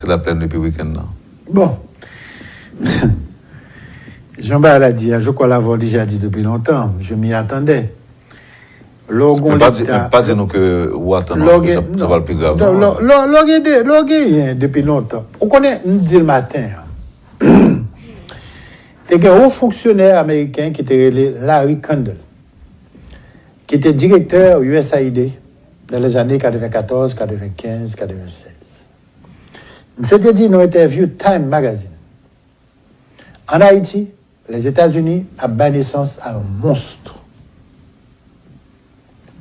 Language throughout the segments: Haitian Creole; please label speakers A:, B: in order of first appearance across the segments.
A: Se la plèn depi weekend nan. Bon!
B: Jan bagay la di a, je crois l'avoir déjà dit depuis longtemps, je m'y attendais. Lè
A: w gon leta. Men pa di nou ke ou atann nou anpil, sa pral pi grav non. Lè w genyen depi
B: lontan. Ou konnen, m di l maten an. Te gen yon fonksyonè ameriken ki te rele Larry Kandel. Ki te direktè usaid nan lèzane 94, 95, 96. Misye te di nan yon entèvyou Time Magazine, An Ayiti, Lèzetazini ap bay nesans a yon monstr.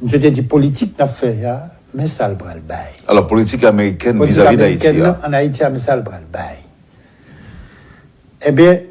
B: Misye te di politik n ap fè a, men sa l pral bay. Alò, politik amerikèn
A: vizavi Dayiti a. Politik amerikèn an
B: Ayiti a, men sa l pral bay. Enben.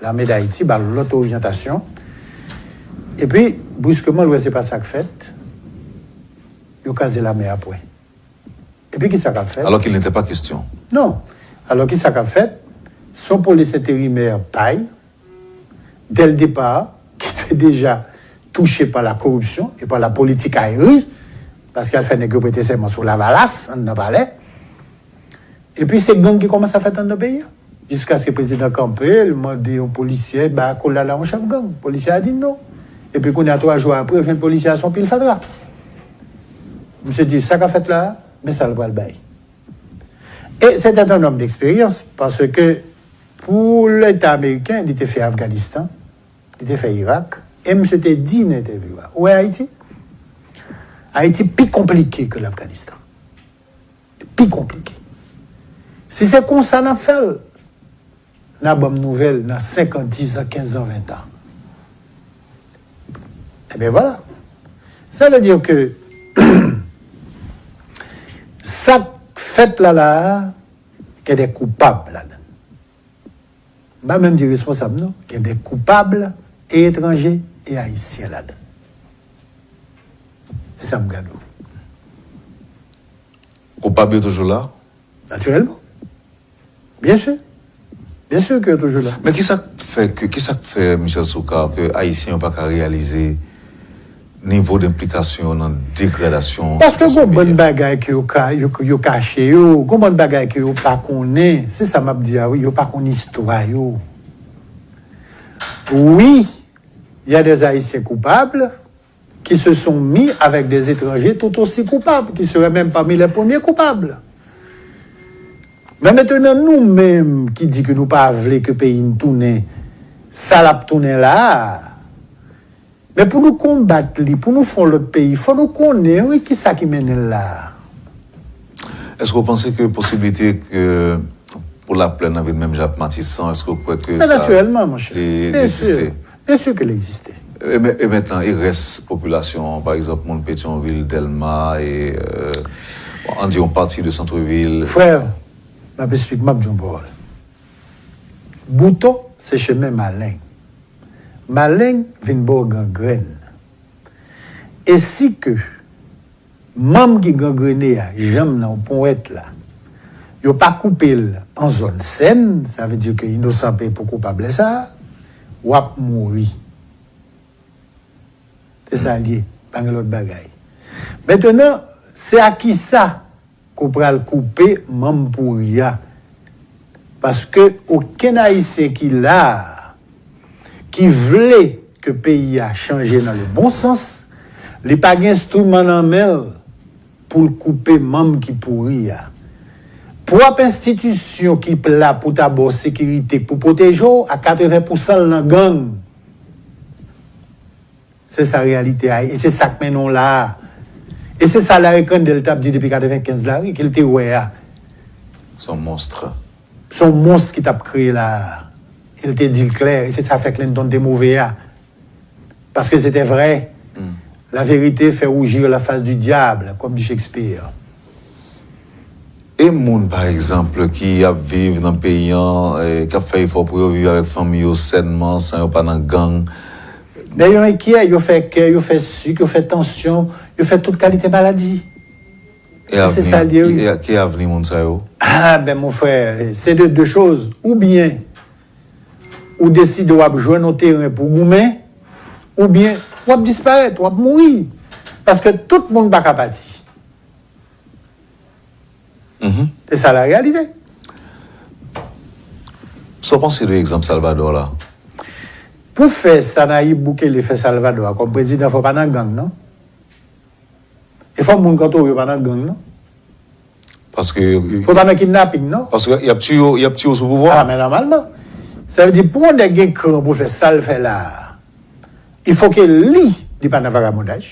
B: Lame Dayiti ba l lòt oryantasyon, epi, briskeman, l wè se pa sa k fèt, yo kaze lame a pwen. Epi ki sa k ap fèt? Alò ki n'ete pa kestyon.
A: Non.
B: Alò ki sa k ap fèt? Son polis enterimè pay, dè l depa, ki te deja touche pa la koripsyon e pa la politikayri, paske al fè nèg yo prete sèman sou lavalas anndan palè. Epi se gang ki komanse ap fèt anndan peyi a. Jiskaske prezidan kanpe, l mande yon polisyè bay akolad a yon chèf gang. Polisyè a di non. Epi kounye a 3 jou apre, ou jwenn polisyè a se yon pil fatra. Misye di sa k ap fèt la a, men sa l pral bay. E se tèt yon òm deksperyans, paske pou leta ameriken, li te fè Afganistan, li te fè Irak, e misye te di nan entèvyou a, ou wè Ayiti? Ayiti pi konplike ke Lafganistan. pi konplike. Si se konsa n ap fè l, n a ban m nouvèl nan senkan, dizan, kenzan, ventan. Ebyen vwala. Sa vle di ke sa k fèt la la a gen de koupab ladan l. M pa menm di responsab non, gen de koupab e etranje e ayisyen ladan. E sa m gad ou.
A: Koupab yo toujou la? Natirèlman.
B: Byen sur. Byen sur ke yo toujou la. Men ki sa k fè ke,
A: ki sa k fè Michel Soukar ke ayisyen yo pa ka reyalize, Nivo denplikasyon yo nan degradasyon Paske sitiyasyon gon peyi bann a.
B: bagay ke yo ka, yo, yo kache yo, gon bann bagay ke yo pa konnen, se sa map di a wi, yo pa konn istwa yo. Wi, ya des Ayisyen koupab ki se son mi avèk des etranje tout osi koupab, ki serè menm pami lè premye koupab. Men metenan nou menm ki di ke nou pa vle ke peyi n tounen sa lap tounen la a, Men pou nou konbat li, pou nou fè yon lòt peyi, fò nou konnen wi ki sa ki mennen l la a.
A: Èske w panse ke posiblite ke pou Laplèn lan vin menm jan ak Matisan, èske w kwè ke sa. Men natirèlman, monchè.
B: Li egziste?
A: Byen si ke l
B: egziste. E mentnan,
A: e rès popilasyon an, pa egzanp, moun Petyonvil, Dèlma, e bon, ann di yon pati de santrevil? Frè,
B: m ap esplik, m ap di yon pawòl. Bouton se chemen maleng. Maleng vin baw gangrenn. E si ke manm ki gangrene a, janm nan ou ponwèt la, yo pa koupe l an zòn sèn, sa vle di ke inosan peye pou koupab lè sa a, wap mouri. Se sa l ye, pa gen lòt bagay. Mentenan, se a kisa? Kou pral koupe manm pouri a. Paske okenn ayisyen ki la a ki vle ke peyi a chanje nan le bon sans, li pa gen enstriman nan men l pou l koupe manm ki pouri a. Pwòp enstitisyon ki p la pou ta ba w sekirite k pou pwoteje w a 80 pousan l nan gang. Se sa reyalite a e se sa k mennen w la a. E se sa Larry Crandell t ap di depi 95 la wi, ke l te wè a. S
A: on monstre. S on monstre
B: ki t ap kreye la a. E l te di l klè. E se sa fè Clinton te move a. Paske se te vrè. La vérité fait rougir la face du diable, kòm di Shakespeare. E
A: moun pa egzanp ki ap viv nan peyi an, k ap fè efò pou yo viv avèk fanmi yo sènman, san yo pa nan gang? Lè yo
B: enkyè, yo fè kè, yo fè sik, yo fè tansyon, yo fè tout kalite maladi. E
A: se sa l ye wi. E ki avni moun sa yo? Ah ben mon frè,
B: se de de choz, oubyen ou deside w ap jwenn yon teren pou w goumen, oubyen w ap disparèt, w ap mouri. Paske tout moun pa ka pati. Se sa la reyalite.
A: Sa w panse de egzanp Salvador la? Pou
B: fè sa Nayib Bukele fè Salvador a kòm prezidan fò w pa nan gang non. E fò moun kantò w yo pa nan gang non.
A: Paske. Fò w pa nan kidnaping
B: non. Paske y ap tiye w, y
A: ap tiye w sou pouvwa. A men nòmalman.
B: Sa vle di pou yon nèg gen kran pou l fè sa l fè la a, il fò ke li, li pa nan vagabondaj.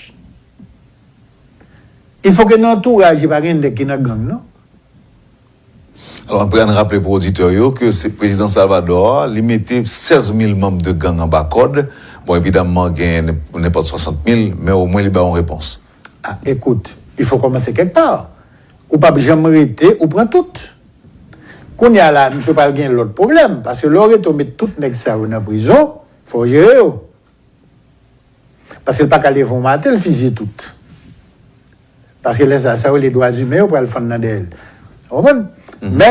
B: Il faut que nan antouraj li pa gen nèg ki nan gang non.
A: Alò anpè ann raple pou oditè yo ke se prezidan Salvador a li mete 16 mil manm de gang anba kòd, bon evidamman gen nenpòt 60 mil men omwen li bay yon repons. A ekout,
B: il faut kòmanse kèk pa, ou pap janm rete ou pran tout. Kounye a la misye pral gen lòt pwoblèm paske lè w rete w met tout nèg sa yo nan prizon fò w jere yo. Paske l pa ka leve yon maten l fizye tout. Paske lè sa, sa yo rele dwazimen yo pral fann nan dèyè l. Ou konprann? Mè,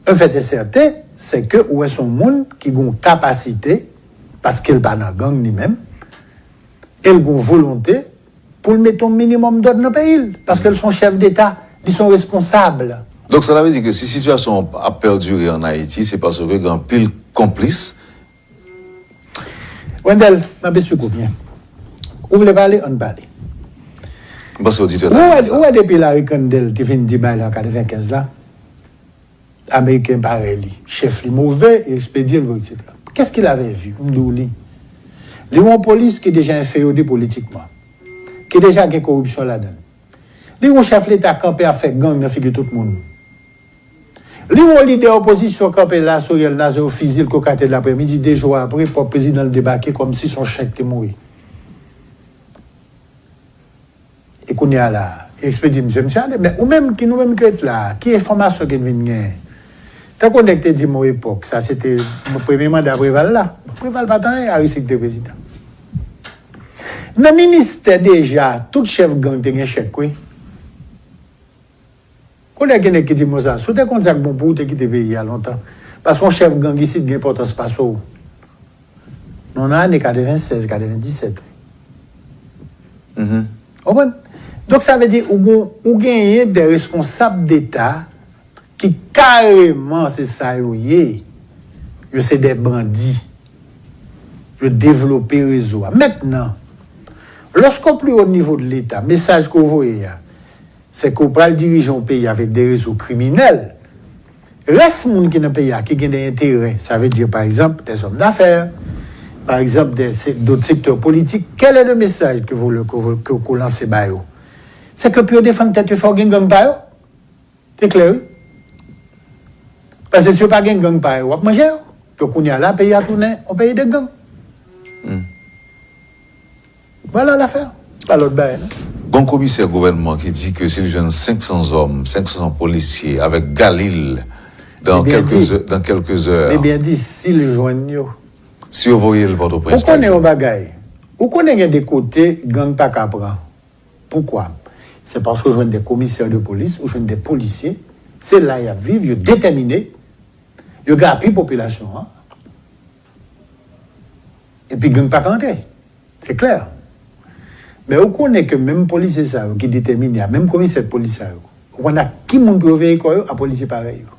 B: un fèt e sèten, sè ke ou wè s on moun ki gen yon kapasite, paske l pa nan gang li menm, e l gen yon volonte pou l mete yon minimòm dòd nan peyi l. Paske l s on chèf deta, li s on responsab. Donk sa ta vle di ke
A: si sitiyasyon an ap pèdire an Ayiti, se paske gen anpil konplis.
B: Wendel, m ap esplike w byen. Ou vle pale, ann pale.
A: M panse oditè yo ta renmen sa. Ou
B: wè depi Larry Kandel te fin di bay la an 95 la, Ameriken parèy li, chèf li move, yo ekspedye l vre eksetera. Qu'est-ce qu'il avait vu? M di w li. Li wè yon polis ki deja enfeyode politikman. Ki deja gen koripsyon ladan l. Li wè yon chèf leta kanpe ap fè gang nan figi tout moun. Li wè lidè opozisyon kanpe la sou rèl Naze yo fiziye l kokatè laprèmidi 2 jou apre pwòp prezidan l debake kòm si son chen k te mouri. E kounye a la, yo ekspedye misye, misye ale. Men ou menm ki nou menm ki ret la, ki enfòmasyon ke n vin genyen? Tankou nèg te di m on epòk, sa se te premye manda Preval la. Preval pa t anyen, Aristide te prezidan. Nan ministè deja, tout chèf gang te gen chèk wi. Koulè gen nèg ki di mo sa. Si w te konn sa k bon pou w te kite peyi a lontan. Paske yon chèf gang isit gen enpòtans pase w. Nou nan ane 96, 97 wi. Ou konprann? Donk sa vle di ou gon, ou genyen de responsab deta ki kareman se sa yo ye. Yo se de bandi. Yo devlope rezo a. Mentnan, loske w pi wo nivo de leta, mesaj ke w voye a. Se ke w pral dirije yon peyi avèk de rezo kriminèl. Rès moun ki nan peyi a ki gen de enterè, sa ve di pa egzanp de zòm dafè, pa egzanp de dot sektè politik, kèl è le mesaj ke vo ke w lanse ba yo? Se ke pou yo defann tèt yo fò gen gang pa yo. Se klè wi. Pase si yo pa gen gang pa yo, w ap manje yo. Donk kounye a la peyi a tounen yon peyi de gang. Vwala lafè, pa lòt bagay non. Gon komisè
A: gouvènman ki di ke si l jwenn 500 zòm, 500 polisye avèk galil dan kèlke zè, dan kèlke zè. Li byen di si l
B: jwenn yo. Si yo voye
A: l Pòtoprens pa ekzanp. Ou konnen yon bagay,
B: ou konnen gen de kote gang pa ka pran. Poukwa? Se paske ou jwenn de komisè de polis, ou jwenn de polisye, se la y ap viv, yo detèmine, yo gen apui popilasyon an. Epi gang pa ka antre. Se klè. Men ou konnen ke menm polisye sa yo ki detèmine a, menm komisè polis sa yo, ou konnen ak ki moun pou yo veye kò yo? A polisye parèy yo.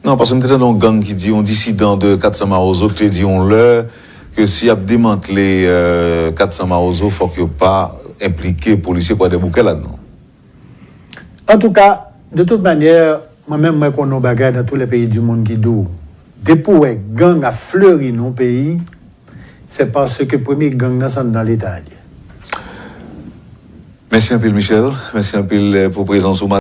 A: Non, paske m te tande yon gang ki di, yon disidan de 400 Mawozo ki te di yon lè ke si y ap demantle 400 Mawozo fòk yo pa enplike polisye Kwadèboukè ladan.
B: Antouka, de tout manyè, mwen menm mwen konnen yon bagay nan tou lè peyi di monn ki di w, depi w wè gang ap fleri nan yon peyi, se paske premye gang nan se anndan leta a l ye.
A: Mèsi anpil
B: Michel,
A: mèsi anpil pou prezans ou.